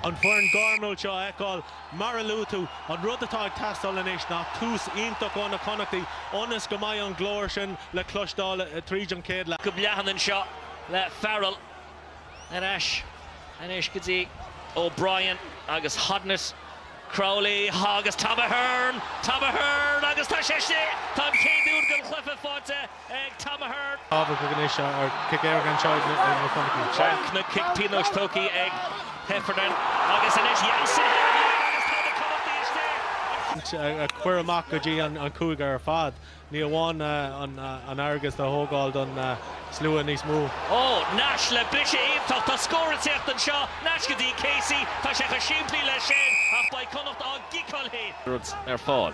an foireann gairmiúil seo a fheiceáil. Mar a luaigh tú, an rud atá ag teastáil anois ná tús iontach ó na Connachtaigh ionas go mbeidh an glór sin le cloisteáil tríd an chéad leath. Go leathan anseo le Farrell. Ar ais anois go dtí O'Brien agus Hodnett. Crowley agus Tom Ahern! Tom Ahern agus tá sé istigh! Tá an chéad úd den chluiche faighte ag Tom Ahern. Tábhacht ag an ngné seo ar chic ar gan seo do na Connachtaigh. Chonaic na cic pionóis tógthaí ag Heffernan agus anois Jansen thar a bheag agus tá na Connachtaigh istigh. a chur amach go dtí an cúige ar fad. Ní amháin an fhearg a thógáil don slua níos mó. Ó, Nash le briseadh iontach. Tá scór ag teacht anseo. Nash go dtí Casey. Tá sé chomh simplí leis sin ach beidh Connacht á gciceáil féin. rud ar fáil.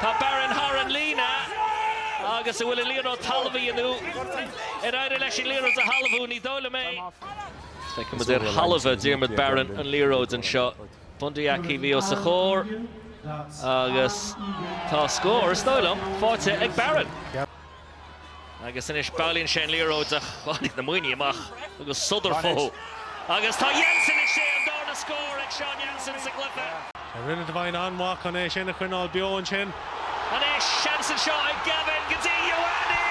Tá Barron thar an líne agus an bhfuil an liathróid talmhaithe inniu. Ar éirigh leis an liathróid a thalmhú? Ní dóigh liom é. Feicimid ar thalmhaigh Diarmuid Barron an liathróid anseo. Bundee Aki bhí os a chomhair agus tá scór, is dóigh liom, faighte ag Barron. Agus anois bailíonn sé an liathróid ach tháinig na Muimhnigh amach agus sodar fúthu. Agus tá Jansen! Is é an darna scór ag Sean Jansen sa gcluiche. Rinne Devine an-mhaith chun é sin a choinneáil beo ansin. Anois seans anseo ag Gavin go dtí Ioane!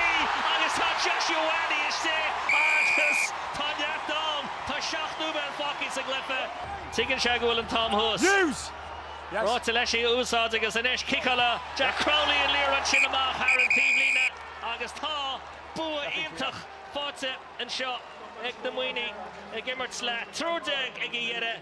Agus tá Josh Ioane istigh agus tá neart ann. Tá seacht nóiméad fágtha sa gcluiche. Tuigeann sé go bhfuil an t-am thuas. Ráite leis í a úsáid agus anois ciceálann Jack Crowley an liathróid sin amach thar an taobhlíne agus tá bua iontach faighte anseo ag na Muimhnigh, ag imirt le triúr déag ag a dheireadh.